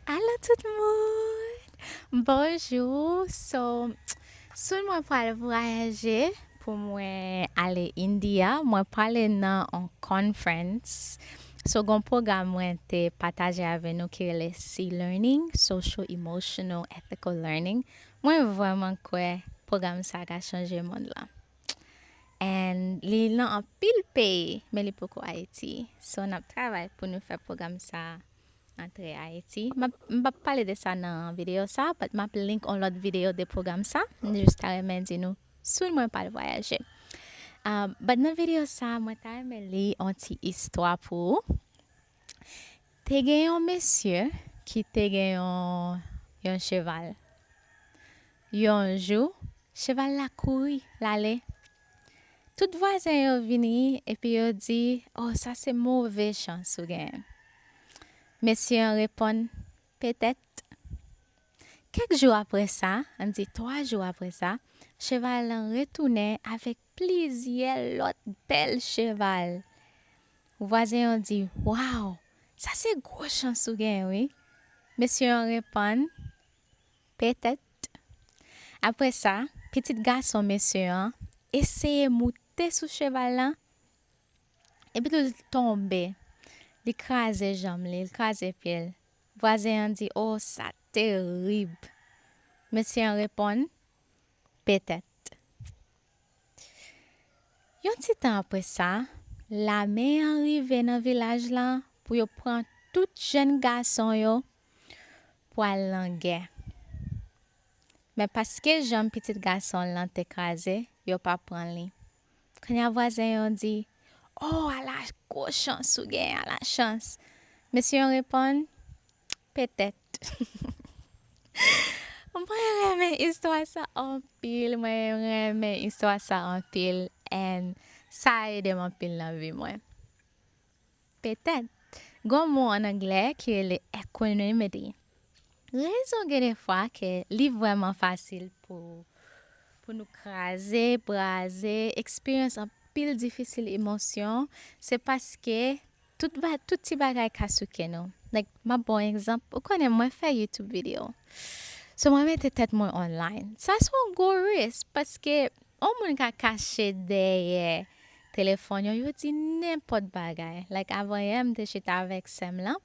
Alo tout moun bonjou so soon mwen pwal vwayaje pou mwen ale india mwen pwale nan on conference so gon pwogram mwen te pataje avè nou ki rele si learning social emotional ethical learning mwen vrèman kwè pwogram sa ka chanje mond lan and li nan anpil peyi men li poko ayiti so nap travay pou nou fè pwogram sa. Antre Ayiti. M pap pale de sa nan videyo sa, but map link on lòt videyo de pwogram sa. M jis ta renmen di nou, soon mwen pral vwayaje. But nan videyo sa, mwen ta renmen li on ti istwa pou ou. Te gen yon mesye ki te gen yon cheval. Yon jou, cheval la kouri, l ale, Tout vwazen yo vini epi yo di, O, sa se move chans ou genyen. Mesye an reponn, Petèt. Kèk jou apre sa, ann di twa jou apre sa, cheval lan retounen avèk plizyè lòt bèl cheval. Vwazen yo di, Waw, sa se gwo chans ou genyen wi. Mesye an reponn. Petèt. Apre sa, pitit gason mesye an eseye moute sou cheval la, epitou l tonbe, li kraze janm li, li kraze pye l. Vwazen an di, O, sa terib! Mesye an reponn, Petèt. Yon ti tan apre sa, lame an rive nan vilaj la pou yo pran tout jenn gason yo pou al nan gè. Men paske janm pitit gason l lan te kraze, yo pa pran li. Kounye a vwazen yo di, O, ala gwo chans ou gen, ala chans! Mesye yo reponn, Petèt. Mwen renmen istwa sa anpil, mwen renmen istwa sa anpil and sa ede m anpil nan vi mwen. Petèt. Gon mo an anglè ki rele equanimity. Rezon gen de fwa ke li vrèman fasil pou pou nou kraze, braze, eksperyans anpil difisil emosyon, se paske tout ba tout ti bagay ka souke nou. Like, map ba w yon egzanp, ou konnen mwen fè YouTube video. So mwen mete tèt mwen online. Sa son gwo risk paske yon moun ka kache dèyè Telefòn yo yo di nenpòt bagay like avanyè m te chita avèk sèm lan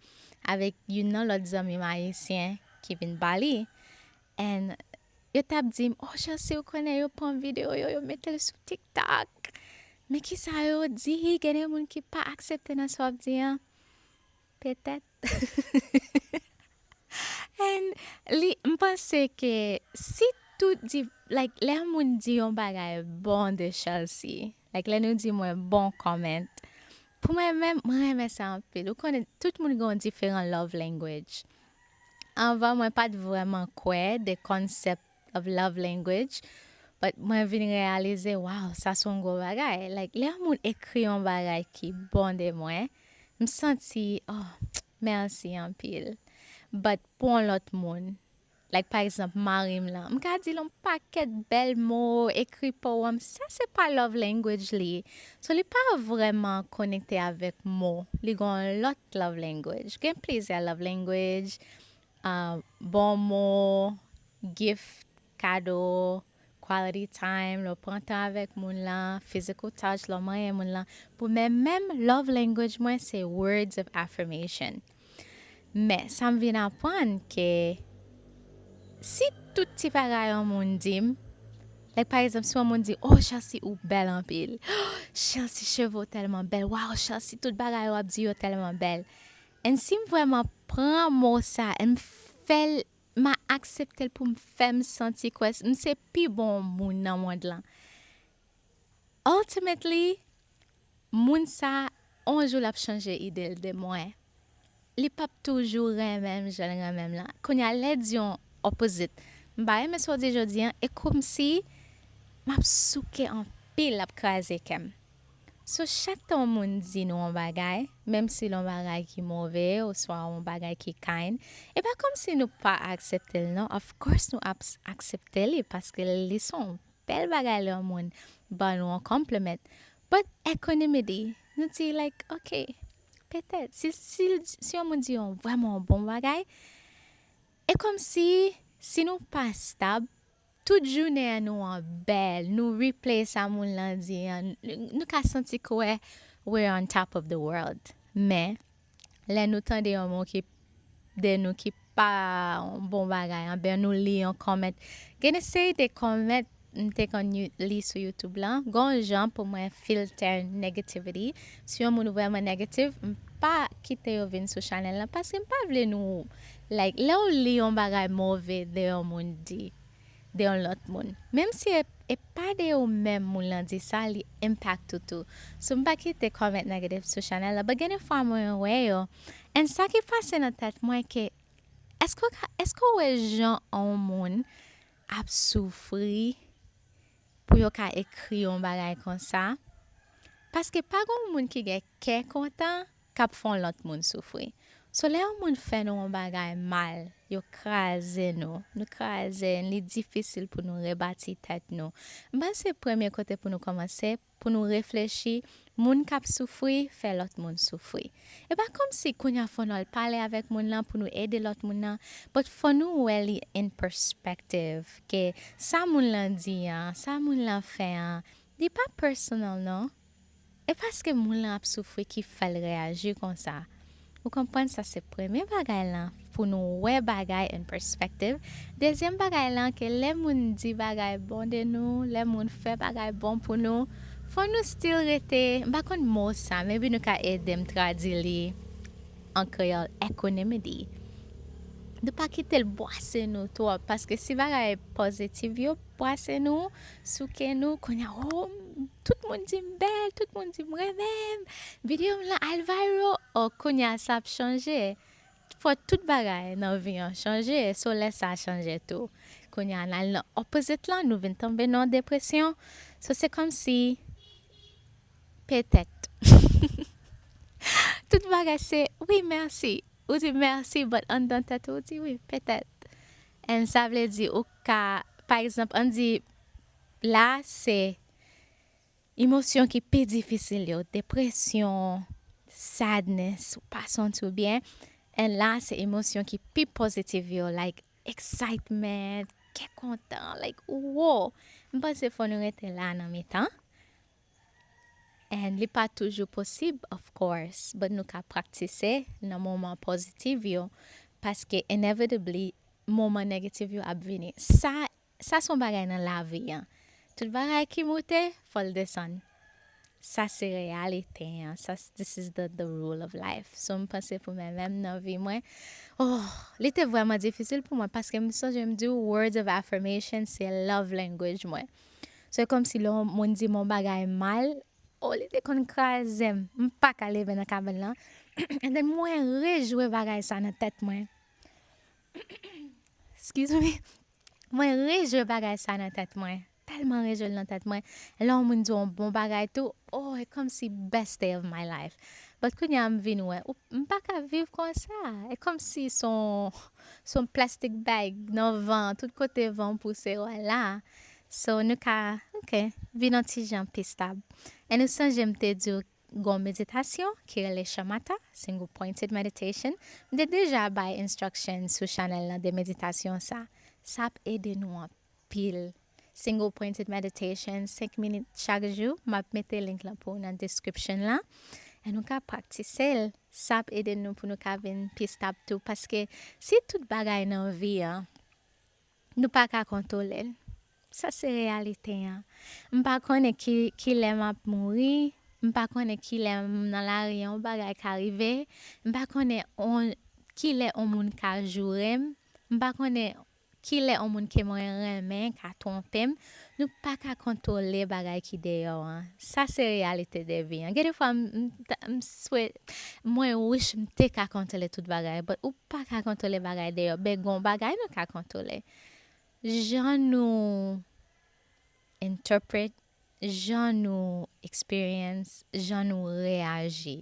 avèk youn nan lòt zanmim ayisyen ki vin bali and yo tap dim oh Chancy ou konnen yo pran video yo yo metel sou tiktok men kisa yo di gen de moun ki pa aksepte nan sa wap di an. Petèt. And li m panse ke si tout di like lè yon moun di yon bagay bon de Chelsea, like lè nou di mwen bon comment, pou mwen menm mwen renmen sa anpil. Ou konnen tout moun gen yon diferan love language. Anvan mwen pat vrèman kwè de concept of love language but mwen vin reyalize waw sa son gwo bagay like lè yon moun ekri yon bagay ki bon de mwen m santi oh merci anpil but pou yon lot moun like pa egzanp marim lan m ka dil yon pakèt bèl mo ekri powèm sa se pa love language li so li pa vreman konekte avèk mo li gon yon lot love language gen plizyè love language. Bon mo, gift, kado, quality time, lè w pran tan avèk moun lan, physical touch, lè w manyen moun lan. Pou mwen menm, love language mwen se words of affirmation. Men, sa m vin aprann ke si tout ti bagay yon moun di m, like pa egzanp si yon moun di, oh Chelsea ou bèl anpil, oh Chelsea cheve w tèlman bèl, waw Chelsea tout bagay w ap di yo tèlman bèl. And sim vrèman pran mo sa em fèl ma akseptel poum fèm santi kwè m se pi bon moun nan mond lan ultimately moun sa on jou lap chanje idel de mwen li pap toujou renmenm janl renmenm lan kounya lè di on opposite m pa renmen sa w di jodi e komsi map souke anpil lap kraze kèm. So chak tan yon moun di nou yon bagay, menm si l yon bagay ki move oswa yon bagay ki kind, e pa kòmsi nou pa aksepte l non, of course nou ap aksepte li paske li s on bèl bagay lè yon moun ban nou yon compliment, but equanimity, nou di like ok, petèt, si yon moun di yon vrèman bon bagay, e kòmsi si nou pa stab, Tout jounen an nou an bèl, nou replay sa moun lan di an, nou ka santi kwè we're on top of the world. Men, lè nou tande yon mo ki de nou ki pa yon bon bagay anben nou li yon comment, gen de seri de comment m te konn li sou youtube lan, gon jan pou mwen filter negativity, si yon moun vrèman negative m pa kite yo vin sou channel lan paske m pa vle nou Like lèw li yon bagay move de yon moun di de yon lòt moun menm si e pa de ou menm moun lan di sa li impact ou tou so m pa kite comment negative sou chanel la but gen de fwa mwen wè yo and sa ki pase nan tèt mwen ke eske ou ka eske ou wè jan on moun ap soufri pou yo ka ekri yon bagay konsa paske pa gon moun ki gen kè kontan K ap fè yon lòt moun soufri. So lè yon moun fè nou yon bagay mal, yo kraze nou, nou kraze, li difisil pou nou rebati tèt nou. M panse premye kote pou nou kòmanse, pou nou reflechi, moun k ap soufri fè lòt moun soufri. E pa kòmsi kounye a fò nou al pale avèk moun lan pou nou ede lòt moun nan, but fò nou wè li in perspective ke sa moun lan di an, sa moun lan fè an, li pa personal non. E paske moun lan ap soufri ki fèl reyaji konsa. Ou konprann sa se premye bagay lan pou nou wè bagay in perspective, dezyèm bagay lan ke lè moun di bagay bon de nou, lè moun fè bagay bon pou nou, fò nou still rete, m pa konn mo sa, maybe nou ka edem tradi li an kreyòl, equanimity. Nou pa kitel bwase nou twòp, paske si bagay positive yo. Bwase nou, souke nou, kounya oh tout moun di m bèl, tout moun di m renmen m, video m lan al viral oh kounya sa ap chanje, fò tout bagay nan vi an chanje so lè sa chanje tou kounya n al nan opposite lan nou vin tonbe nan depresyon so se kòmsi petèt tout bagay se wi mèsi ou di mèsi but anndan tèt ou ou di wi petèt and sa vle di ou Ka, pa egzanp, ann di, la a se emosyon ki pi difisil yo, depresyon, sadness, ou pa santi w byen, and la a se emosyon ki pi positive yo, like excitement, kè kontan, like, woo! M panse fò nou rete la a nan mitan, and li pa toujou posib of course but nou ka praktise nan moman positive yo paske inevitably moman negative yo ap vini sa sa son bagay nan lavi an tout bagay ki moute fòl desann sa se reyalite an sa this is the the rule of life so m panse pou mwen menm nan vi mwen ohh li te vrèman difisil pou mwen paske m sonje m diw words of affirmation se love language mwen. Se kòmsi lè yon moun di m yon bagay mal, o li te konn kraze m, m pa ka leve nan kabann lan, andennen mwen rejwe bagay sa nan tèt mwen, eskiz mi, mwen rejwe bagay sa nan tèt mwen, tèlman rejwe l nan tèt mwen, lè yon moun di w yon bon bagay tou, o e kòmsi best day of my life, but kounye a m vin wè, ou, m pa ka viv konsa, e kòmsi son, son plastic bag nan van, tout kote van pouse w la. So nou ka, ok, vin yon ti jan pi stab. An ou sonje m te di w gen yon meditasyon ki rele Shamatha, Single Pointed Meditation. M te deja bay instructions sou channel lan de meditasyon sa. Sa ap ede nou anpil. Single Pointed Meditation 5 minit chak jou, m ap mete link lan pou ou nan description lan. An nou ka praktise l. Sa ap ede nou pou nou ka vin pi stab tou. Paske si tout bagay nan vi an Nou pa ka kontwole l. Sa se reyalite an. M pa konnen ki lè m ap mouri. M pa konnen ki lè m nan lari yon bagay ka rive. M pa konnen ki lè yon moun ka joure m. M pa konnen ki lè yon moun ke mwen renmen ka twonpe m. Nou pa ka kontwole bagay ki deyò an. Sa se reyalite de vi an. Gen de fwa m m swe mwen wish m te ka kontwole tout bagay but ou pa ka kontwole bagay deyò but gon bagay nou ka kontwole jan nou interpret, jan nou experience, jan nou reyaji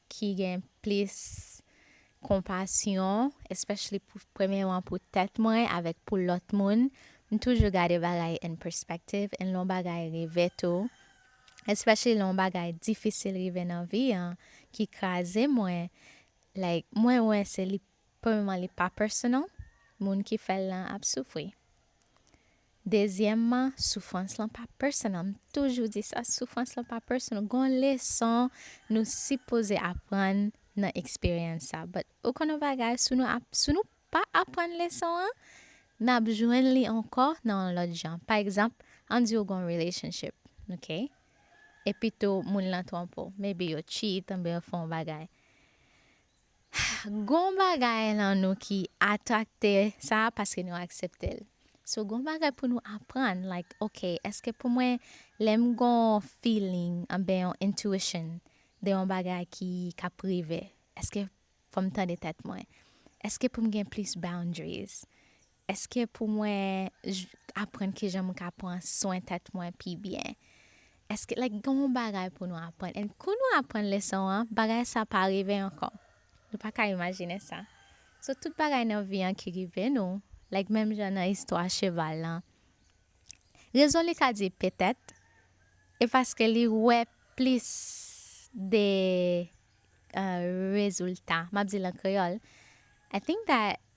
ki gen plis konpasyon especially pou premyeman pou tèt mwen avèk pou lòt moun m toujou gade bagay in perspective and lè yon bagay rive tou especially lè yon bagay difisil rive nan vi an ki kraze mwen like mwen wè se li Premyèman li pa personal, moun ki fè l lan ap soufri. Dezyèmman soufrans lan pa personal, m toujou di sa, soufrans lan pa personal, gon leson nou sipoze aprann nan eksperyans sa, but ou konn yon bagay si nou ap, si nou pa aprann leson an, nap jwenn li ankò nan yon lòt jan, pa egzanp an di ou gon relationship ok, epitou moun lan twonpe w, maybe yo cheat oubyen yo fè yon bagay, Gon bagay nan nou ki atrakte sa paske nou akseptel so gon bagay pou nou aprann like ok eske pou mwen lèm gon feeling anben yon intuition de yon bagay ki kap rive eske fòm tande tèt mwen eske poum gen plis boundaries Èske pou mwen aprann kijan mwen ka pran swen tèt mwen pi byen? Èske like gen yon bagay pou nou aprann and kou nou aprann leson an bagay sa pa rive ankò. Nou pa ka imajine sa. So tout bagay nan vi an ki rive nou like menm jan nan istwa cheval lan rezon li ka di petèt e paske li wè plis de rezilta. M ap di l an kreyòl I think that.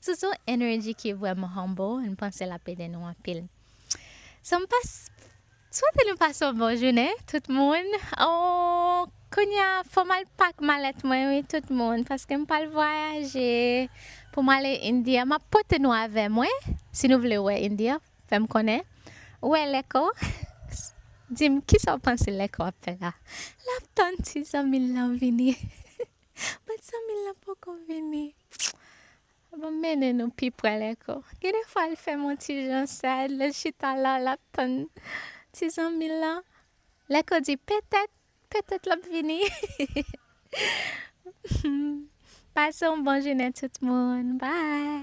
Sousou energy ki vrèman humble m panse lap ede nou anpil So m pas Swete nou pase yon bon jounen tout moun ooh kounya fòm al pak malèt mwen wi tout moun paske m pral vwayaje pou m ale India map pote nou avè mwen si nou vle wè India fè m konnen ou wè lèko di m kisa w panse lèko ap fè la lap tann ti zanmi l lan vini. Bat sa mil la poko vini. Bon mennen nou pi pre lèko. Gen de fwa l fè m on ti jan sad lè l chita la l ap tann ti zanmi l lan. Lèko di petèt, petèt l ap vini. Pase on bon jounen tout moun. Bye.